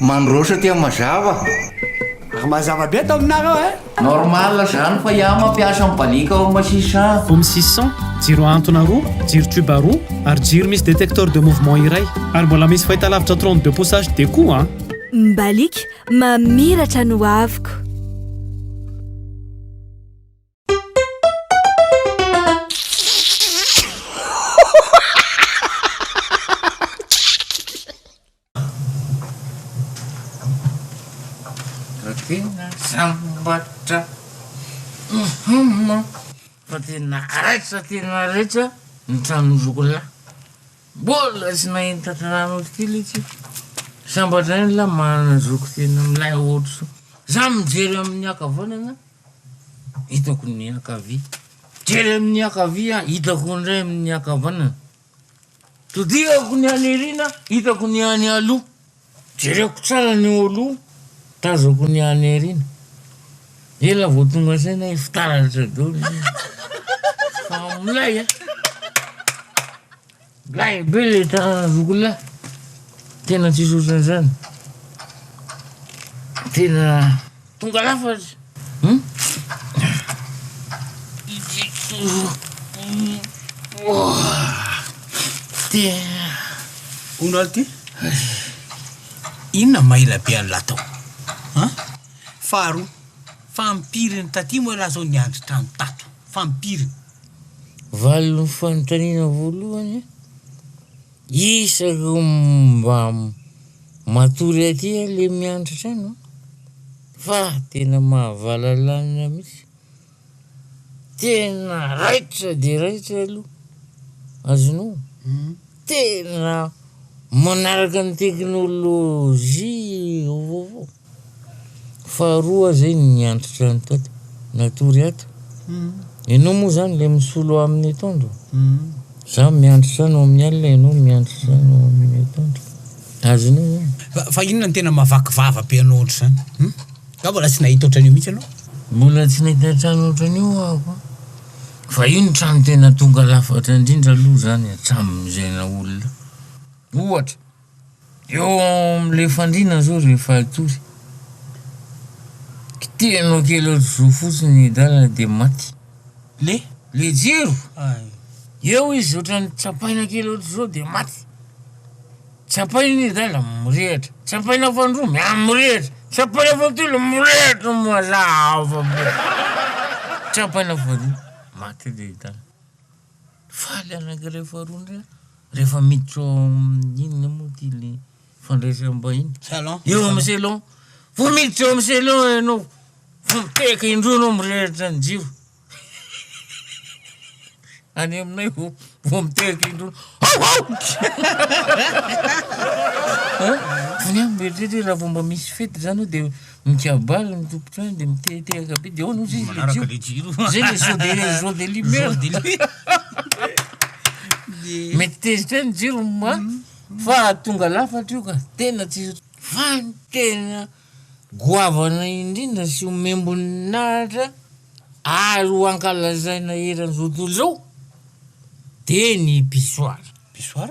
Mandroso aty mazava. Ary mazava be ato aminareo eh. Normal zany fa iah mampiasa ny balika ao masisy an. Home six cent, jiro ahantona roa, jiro tube roa, ary jiro misy détecteur de mouvement iray. Ary mbola misy fahitalavitra trente deux pouces HD koa an. Ny balika mamiratra ny hoaviko. Fa tena sambatra fa tena raitra tena raitra ny tranon'i Zokolahy. Mbola tsy nahita trano otrik'ila ity. Sambatra ihany lahy manana zoky tena milay ohatr'izao. Za mijery amin'ny ankavanana hitako ny ankavia, mijery amin'ny ankavia hitako indray amin'ny ankavanana. Todihako ny any aoriana, hitako ny any aloha. Jereko tsara ny eo aloha, tazako ny any aoriana. Ela vao tonga saina hoe fitaratra daholo izany. Fa milay a! Milay be ilay tanàna Zokilahy. Tena tsisy ohatran'izany. Tena. Tonga lafatra ity Hono ary ty inona ma ela be an'lah tao an? Faharoa, fa am-piriny taty moa elah zao niandry trano tato? Fa am-piriny? Valon'ny fanontaniana voalohany. Isa ireo mba matory aty a le miandratra any a! Fa tena mahavalalanina mihitsy. Tena raitra dia raitra aloha. Azonao? Tena manaraka ny teknolojia vaovao. Faharoa aza iny niantotra an'i Taty natory ato. Ianao moa zany le misolo amin'ny etoandro? Za miantotra any ao amin'ny alina ianao miantotra any ao amin'ny etoandro. Azonao zany. Fa fa inona no tena mahavaky vava be anao ohatr'izany? Hum? Nga mbola tsy nahita ohatran'io mihitsy ianao? Mbola tsy nahita trano ohatran'io aho an! Fa io ny trano tena tonga lafatra indrindra aloha zany hatramin'izay naha olona. Ohatra. Eo amin'ilay fandriana izao ry Fahitory, kitihanao kely ohatr'izao fotsiny ny dalana dia maty. Le? Le jiro! Ay! Eo izy ohatran'ny tsapaina kely ohatr'izao dia maty. Tsapaina ny dala, mirehatra. Tsapaina fahandroa, miha mirehatra. Tsapaina fahatelo, mirehatra mazava be. Tsapaina faharoa, maty ilay dala. Faly anak'iray faharoa ndray aho rehefa miditra ao amin'ny inona moa ty le fandraisam-bahiny Salon. eo amin'ny selon vao miditra eo amin'ny selon ianao vao mitehaka indroa ianao mirehitra ny jiro any aminay vao vao mitehaka indroa hao hao An? any aho mieritreritra hoe raha vao mba misy fety zany eo de Mikabary ny tompon-trano dia mitehatehaka be, dia ahoana hozy izy le jiro? Izay le zo de zo de limer. Mety tezitra eo ny jiro ma, fa tonga lafatra io ka, tena tsy, fa ny tena goavana indrindra sy homem-boninahitra ary ho ankalazaina eran'izao tontolo izao dia ny pissoir. Pissoir?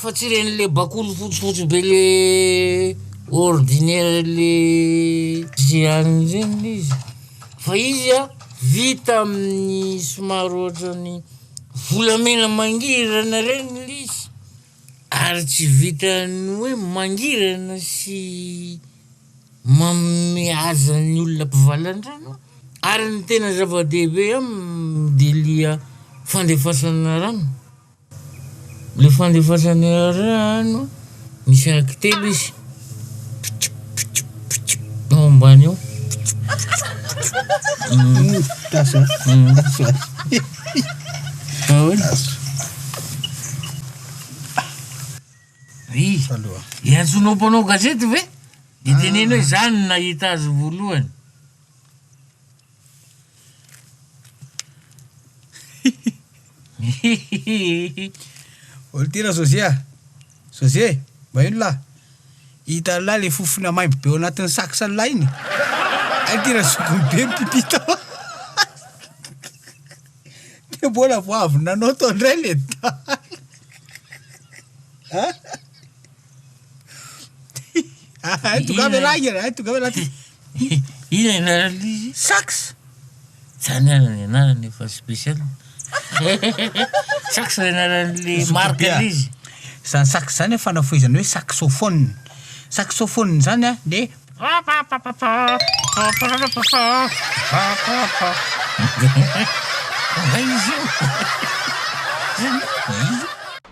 Fa tsy ireny le bakoly fotsifotsy be le ordinaire le ze any ireny le izy fa izy a vita amin'ny somary ohatran'ny volamena mangirana ireny le izy ary tsy vitan'ny hoe mangirana sy manome aza ny olona mpivalan-drano ary ny tena zava-dehibe aminy de lia fandefasana rano Le fandefasany rano misy araky telo izy ao ambany ao le antsonao mpanao gazety ve de teneno hoe za no nahita azy voalohany Hihihihihi. Olo ty ra José ah. José, mba ino lah. Hitan'lah le fofona maimbo be ao anatin'ny saksan'lah iny. Hay ty ra zokiny be mipipi tao. Dia mbola vao avy nanao tao indray le dahy. Hay tongava ialahy, hay tongava ialahy ty. Inona ny anaran'ilay izy? Sax! Zany ary ny anarany efa special. Sax ny anaran'ilay marque Zootopia. ilay izy. Izany sax izany an, fanafohezana hoe saxophone. Saxophone izany an, dia Angah izy io.